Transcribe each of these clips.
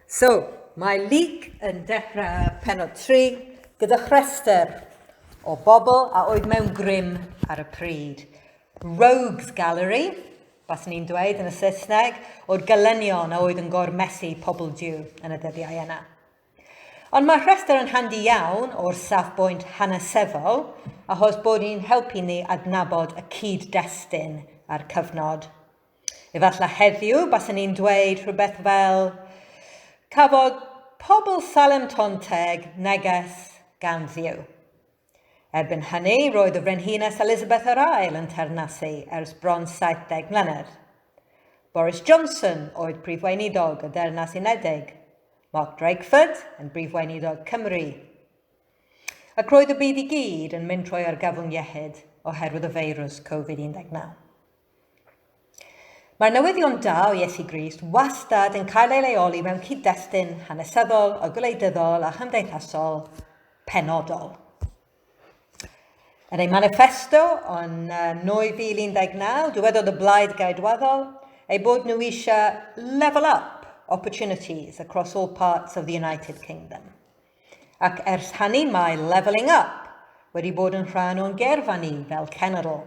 So, mae Luke yn dechrau penod 3 gyda chrester o bobl a oedd mewn grym ar y pryd. Rogues Gallery, bas ni'n dweud yn y Saesneg, o'r gylenion a oedd yn gormesu pobl diw yn y dyddiau yna. Ond mae rhestr yn handi iawn o'r safbwynt hanesyddol achos bod hi'n helpu ni adnabod y cyd-destun a'r cyfnod. Efallai heddiw basen ni'n dweud rhywbeth fel, Cafodd pobl Salem Ton Teg neges gan Dduw. Erbyn hynny, roedd y Frenhines Elizabeth yr Ail yn teyrnasu ers bron 70 mlynedd. Boris Johnson oedd Prif Weinidog y Ddeyrnas Unedig, Mark Drakeford yn Brif Weinidog Cymru. Ac roedd y byd i gyd yn mynd trwy argyfwng iechyd oherwydd y feirws Covid-19. Mae'r newyddion da o Iesu Grist wastad yn cael ei leoli mewn cyd-destun hanesyddol a gwleidyddol a chymdeithasol penodol. Yn ei manifesto yn 2019, dywedodd y Blaid Geidwadol eu bod nhw eisiau level up opportunities across all parts of the United Kingdom. Ac ers hynny mae levelling up wedi bod yn rhan o'n geirfa ni fel cenedl.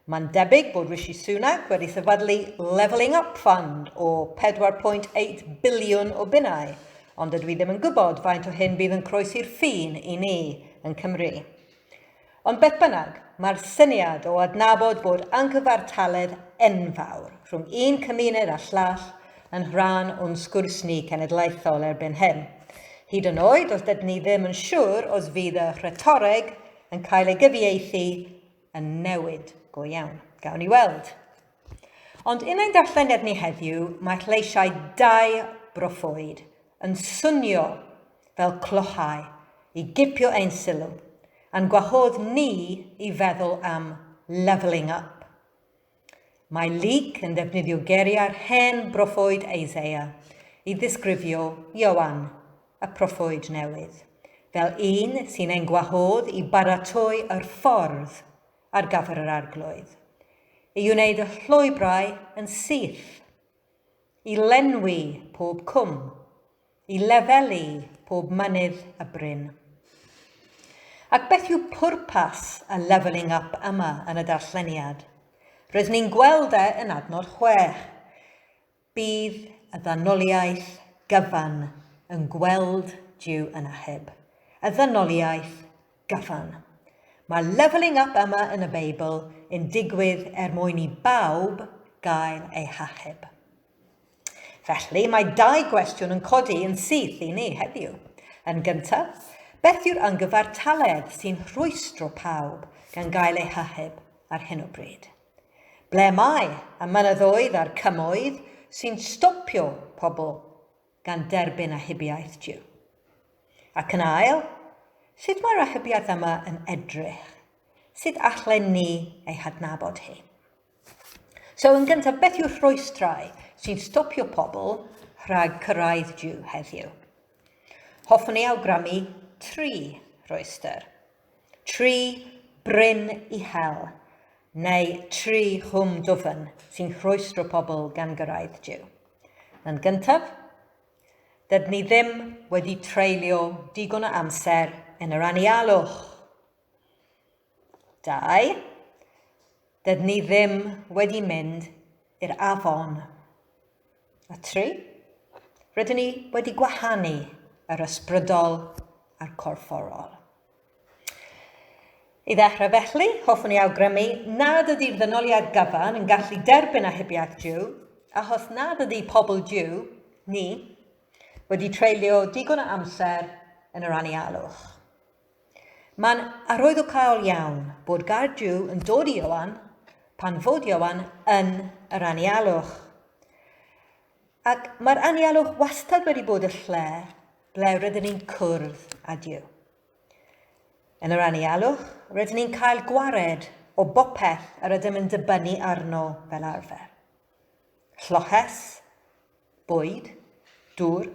Mae'n debyg bod Rishi Sunak wedi sefydlu Levelling Up Fund o 4.8 biliwn o bunnau, ond dydw i ddim yn gwybod faint o hyn bydd yn croesi'r ffin i ni yn Cymru. Ond beth bynnag, mae'r syniad o adnabod bod angyfartaledd enfawr rhwng un cymuned a llall yn rhan o'n sgwrs ni cenedlaethol erbyn hyn, hyd yn oed os dydyn ni ddim yn siŵr os fydd y rhetoreg yn cael ei gyfieithu yn newid go iawn. Gawn ni weld. Ond yn ein darlleniad ni heddiw, mae lleisiau dau broffwyd yn swnio fel clochau i gipio ein sylw, a'n gwahodd ni i feddwl am 'levelling up'. Mae Luc yn defnyddio geiriau'r hen broffwyd Isaiah i ddisgrifio Ioan, y proffwyd newydd, fel un sy'n ein gwahodd i baratoi yr ffordd ar gyfer yr Arglwydd, i wneud y llwybrau yn syth. I lenwi pob cwm. I lefelu pob mynydd a bryn. Ac beth yw pwrpas y levelling up yma yn y darlleniad? Rydyn ni'n gweld e yn adnod chwech. Bydd y ddynoliaeth gyfan yn gweld Duw yn achub. Y ddynoliaeth Gyfan. Mae levelling up yma yn y Beibl yn digwydd er mwyn i bawb gael eu hachub. Felly, mae dau gwestiwn yn codi yn syth i ni heddiw. Yn gyntaf, beth yw'r yngyfartaledd sy'n rhwystro pawb gan gael eu hachub ar hyn o bryd? Ble mae y mynyddoedd a'r cymoedd sy'n stopio pobl gan derbyn achubiaeth Duw? Ac yn ail, sut mae'r achubiaeth yma yn edrych? Sut allen ni ei hadnabod hi? So, yn gyntaf, beth yw'r rhwystrau sy'n stopio pobl rhag cyrraedd Duw heddiw? Hoffwn i awgrymu tri rhwystr. Tri bryn uchel, neu tri chwm dwfn sy'n rhwystro pobl gan gyrraedd Duw. Yn gyntaf, dydyn ni ddim wedi treulio digon o amser yn yr anialwch. Dau, dydyn ni ddim wedi mynd i'r afon. A tri, rydyn ni wedi gwahanu yr ysbrydol a'r corfforol. I ddechrau felly, hoffwn ni awgrymu nad ydy'r ddynoliad gyfan yn gallu derbyn ahibiaeth Dyw, a hos nad ydy pobl Dyw, ni, wedi treulio digon o amser yn yr anialwch. Mae'n arwyddocaol iawn bod gair Duw yn dod i Ioan pan fod Ioan yn yr anialwch. Ac mae'r anialwch wastad wedi bod y lle ble rydyn ni'n cwrdd â Duw. Yn yr anialwch, rydyn ni'n cael gwared o bopeth yr ydym yn dibynnu arno fel arfer. Lloches, bwyd, dŵr,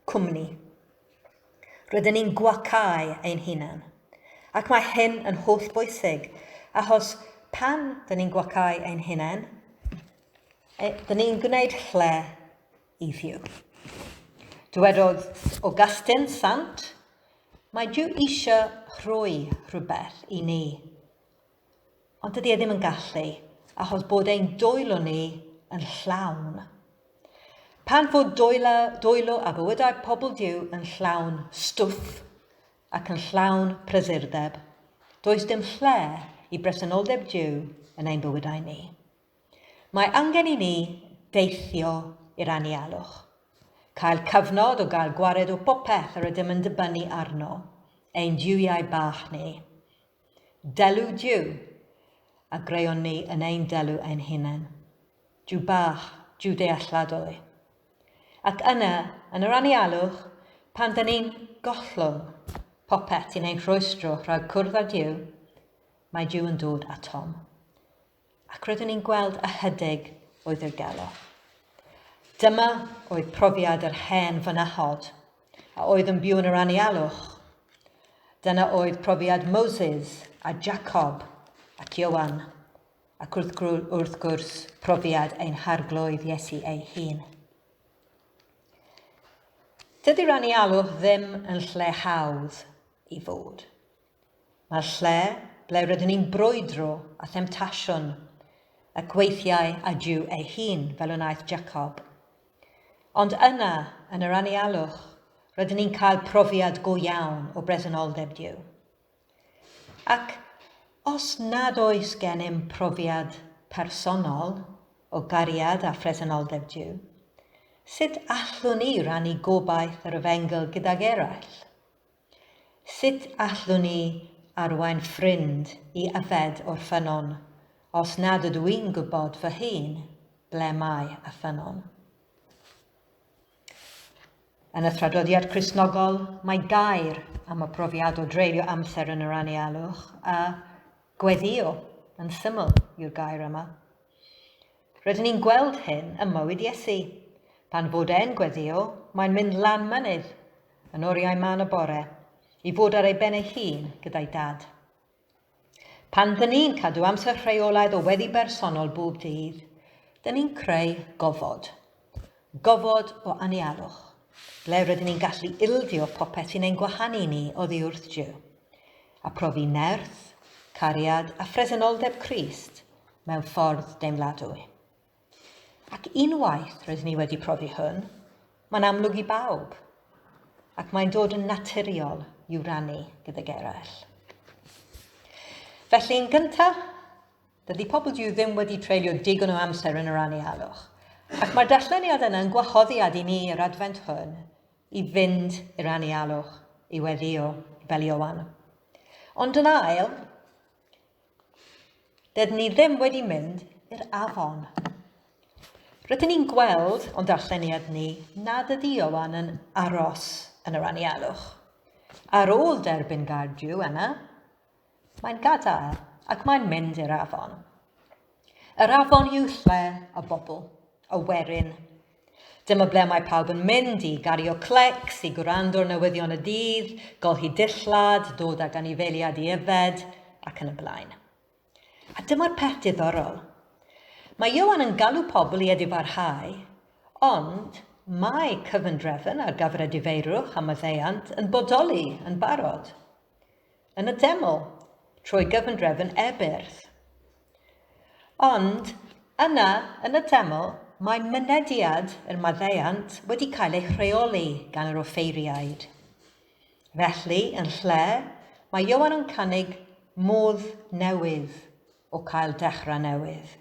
cwmni. Rydyn ni'n gwacáu ein hunan. Ac mae hyn yn holl bwysig, achos pan dyn ni'n gwacáu ein hunain, e, dyn ni'n gwneud lle i Dduw. Dywedodd Augustine Sant, mae Duw eisiau rhoi rhywbeth i ni. Ond dydy e ddim yn gallu, achos bod ein dwylo ni yn llawn. Pan fod dwylo, dwylo a bywydau pobl Dyw yn llawn stwff ac yn llawn prysurdeb, does dim lle i bresenoldeb Dyw yn ein bywydau ni. Mae angen i ni deithio i'r anialwch, cael cyfnod o gael gwared o popeth yr ydym yn dibynnu arno, ein Dywiau bach ni, Delu Duw, a greon ni yn ein delu ein hunain. Duw bach, Duw dealladol i. Ac yna, yn yr anialwch, pan dyn ni'n gollwng popeth sy'n ein rhwystro rhag cwrdd â Duw, mae Duw yn dod atom. ac roeddwn i'n gweld ychydig o'i ddirgelwch. Dyma oedd profiad yr hen fynachod, a oedd yn byw yn yr anialwch. Dyna oedd profiad Moses a Jacob ac Iowan, ac wrth, wrth gwrs profiad ein harglwydd Iesu ei hun. Dydy'r anialwch ddim yn lle hawdd i fod. Mae'r lle ble rydyn ni'n brwydro a themtasiwn y gweithiau a Duw ei hun, fel y wnaeth Jacob. Ond yna, yn yr anialwch, rydyn ni'n cael profiad go iawn o bresenoldeb Duw. Ac os nad oes gennym profiad personol o gariad a phresenoldeb Duw, sut allwn ni rannu gobaith yr efengyl gydag eraill? Sut allwn i arwain ffrind i yfed o'r ffynnon os nad ydw i'n gwybod fy hun ble mae y ffynnon? Yn y traddodiad Cristnogol, mae gair am y profiad o dreulio amser yn yr anialwch a gweddïo yn syml yw'r gair yma. Rydyn ni'n gweld hyn ym mywyd Iesu. Pan fod e'n gweddïo, mae'n mynd lan mynydd, yn oriau man y bore, i fod ar ei ben ei hun gyda'i Dad. Pan dyn ni'n cadw amser rheolaidd o weddi bersonol bob dydd, dyn ni'n creu gofod. Gofod o anialwch. Ble rydyn ni'n gallu ildio popeth sy'n ein gwahanu ni oddi wrth Duw, a profi nerth, cariad a phresenoldeb Crist mewn ffordd deimladwy. Ac unwaith rydyn ni wedi profi hwn, mae'n amlwg i bawb, ac mae'n dod yn naturiol i'w rannu gydag eraill. Felly, yn gyntaf, Dydy pobl Duw ddim wedi treulio digon o amser yn yr anialwch. Ac mae'r darlleniad yna yn gwahoddiad i ni yr Adfent hwn i fynd i'r anialwch, i weddio, fel Ioan. Ond yn ail, dydyn ni ddim wedi mynd i'r afon. Rydyn ni'n gweld o'n darlleniad ni nad ydy Ioan yn aros yn yr anialwch. Ar ôl derbyn gair Duw yna, Mae'n gadael ac mae'n mynd i'r afon. Yr afon yw lle y bobl, y werin. Dyma ble mae pawb yn mynd i gario clecs, i gwrando ar newyddion y dydd, golchi dillad, dod ag anifeiliad i yfed, ac yn y blaen. A dyma'r peth diddorol. Mae Ioan yn galw pobl i edifarhau, ond mae cyfundrefn ar gyfer edifeirwch a maddeuant yn bodoli yn barod. yn y teml trwy gyfundrefn Ebirth. Ond yna yn y teml mae mynediad yr maddeuant wedi cael ei rheoli gan yr offeiriaid. Felly, yn lle, mae Ioan yn cynnig modd newydd o cael dechrau newydd.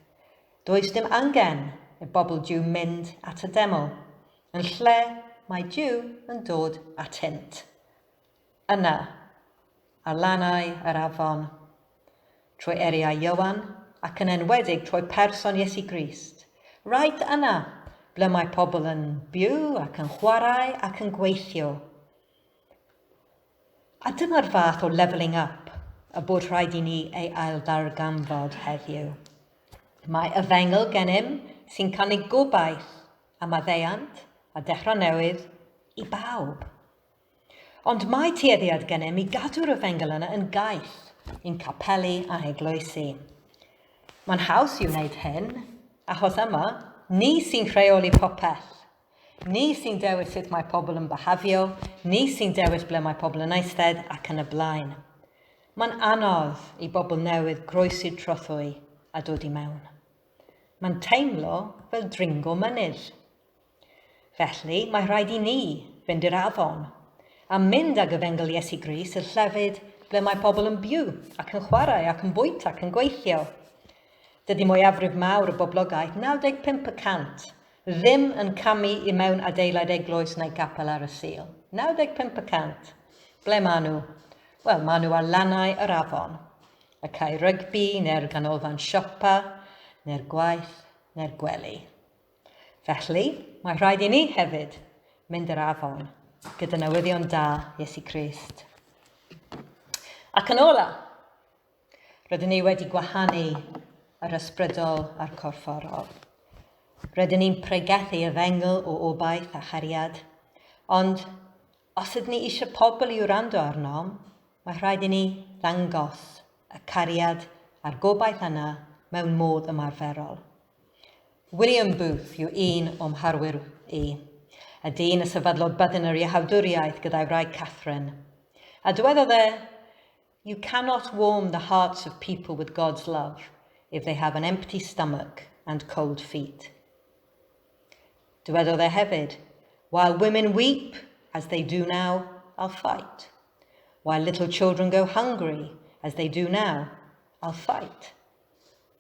Does dim angen y bobl Dyw mynd at y deml. Yn lle, mae Dyw yn dod atynt. Yna, ar lannau yr afon, trwy eriau Ioan, ac yn enwedig trwy person Iesu Grist, right yna, ble mae pobl yn byw ac yn chwarae ac yn gweithio. A dyma'r fath o levelling up y bod rhaid i ni ei ailddarganfod heddiw. Mae efengyl gennym sy'n canu gobaith a maddeuant a dechrau newydd i bawb. Ond mae tueddiad gennym i gadw'r efengyl yna yn gaeth i'n capeli a eglwysi. Mae'n haws i wneud hyn, achos yma, ni sy'n rheoli popeth. Ni sy'n dewis sut mae pobl yn byhafio, ni sy'n dewis ble mae pobl yn eistedd ac yn y blaen. Mae'n anodd i bobl newydd groesi'r trothwy a dod i mewn. Mae'n teimlo fel dringo mynydd. Felly, mae rhaid i ni fynd i'r afon, a mynd ag efengyl Iesu Grist i'r llefydd ble mae pobl yn byw ac yn chwarae ac yn bwyta ac yn gweithio. Dydy mwyafrif mawr y boblogaeth, 95 y cant, ddim yn camu i mewn adeilad eglwys neu gapel ar y Sul. 95 y cant. Ble maen nhw? Wel, maen nhw ar lannau yr afon, y cae rygbi neu'r ganolfan siopa neu'r gwaith neu'r gwely. Felly, mae rhaid i ni hefyd mynd yr afon gyda newyddion da Iesu Grist. Ac yn ola, rydyn ni wedi gwahanu yr ysbrydol a'r corfforol. Rydyn ni'n pregethu y fengl o obaith a chariad, ond os ydyn ni eisiau pobl i wrando arnom, mae rhaid i ni ddangos y cariad a'r gobaith yna mewn modd ymarferol. William Booth yw un o'm harwyr i, a dyn y sefydlodd byddin yr Iehawdwriaeth gyda'i wraig Catherine. A dywedodd e, You cannot warm the hearts of people with God's love if they have an empty stomach and cold feet. Dywedodd e hefyd, While women weep, as they do now, I'll fight. While little children go hungry, as they do now, I'll fight.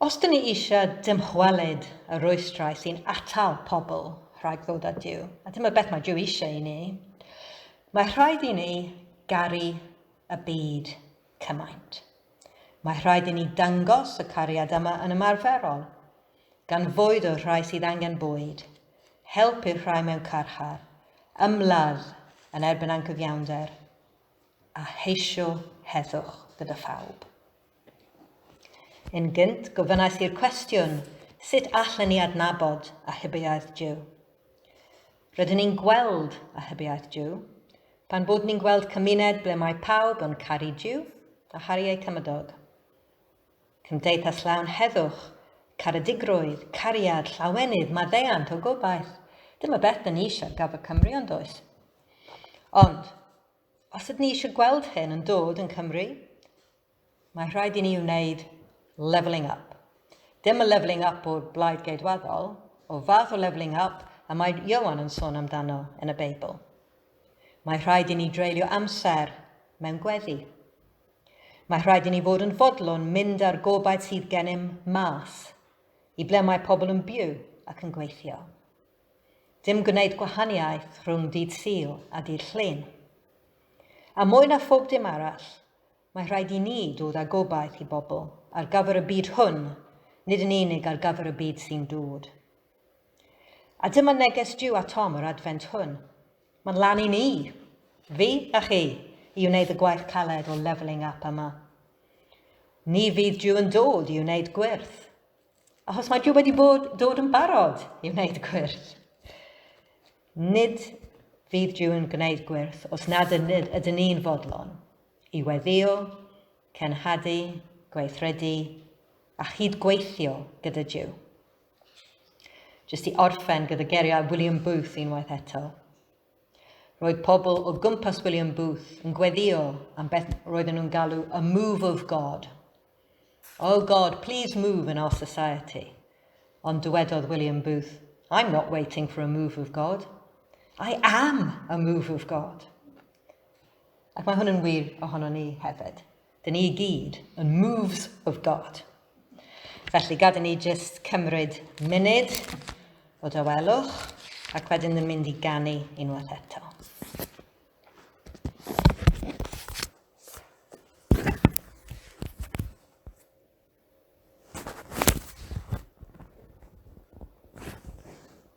Os dŷn ni eisiau dymchwelyd y rwystrau sy'n atal pobl rhag ddod at Duw, a dyma beth mae Duw eisiau i ni, mae rhaid i ni garu y byd cymaint. Mae rhaid i ni dangos y cariad yma yn ymarferol, gan fwyd o'r rhai sydd angen bwyd, help i'r rhai mewn carchar, ymladd yn erbyn angyfiawnder, a heisio heddwch gyda phawb. Yn gynt, gofynnais i'r cwestiwn, sut allen ni adnabod a hybiaeth Duw? Rydyn ni'n gweld a hybiaeth Duw pan bod ni'n gweld cymuned ble mae pawb yn caru Duw a charu eu cymydog. Cymdeithas llawn heddwch, caredigrwydd, cariad, llawenydd, maddeuant o gobaith. Dyma beth da ni eisiau gaf y Cymru ond oes? Ond, Os ydyn ni eisiau gweld hyn yn dod yn Cymru, mae rhaid i ni wneud levelling up. Dim y levelling up o'r blaid geidwaddol, o fath o levelling up y mae Iowan yn sôn amdano yn y Beibl. Mae rhaid i ni dreulio amser mewn gweddi. Mae rhaid i ni fod yn fodlon mynd ar gobaith sydd gennym mas, i ble mae pobl yn byw ac yn gweithio. Dim gwneud gwahaniaeth rhwng dydd Sul a dydd Llun. A mwy na phob dim arall, mae rhaid i ni dod â gobaith i bobl ar gyfer y byd hwn, nid yn unig ar gyfer y byd sy'n dod. A dyma neges Duw a Tom yr Adfent hwn. Mae'n lan i ni, fi a chi, i wneud y gwaith caled o levelling up yma. Ni fydd Duw yn dod i wneud gwyrth, Achos mae Joe wedi bod dod yn barod i wneud gwyrth. Nid fydd Joe yn gwneud gwyrth os nad ydyn ni'n fodlon i weddio, cenhadu, gweithredu a chyd gweithio gyda Joe. Jyst i orffen gyda geriau William Booth unwaith eto. Roedd pobl o gwmpas William Booth yn gweddio am beth roedden nhw'n galw a move of God. Oh God, please move in our society. Ond dywedodd William Booth, I'm not waiting for a move of God. I am a move of God. Ac mae hwn yn wir ohono ni hefyd. Dyn ni i gyd yn moves of God. Felly gad i ni jyst cymryd munud o dawelwch ac wedyn ni'n mynd i ganu unwaith eto.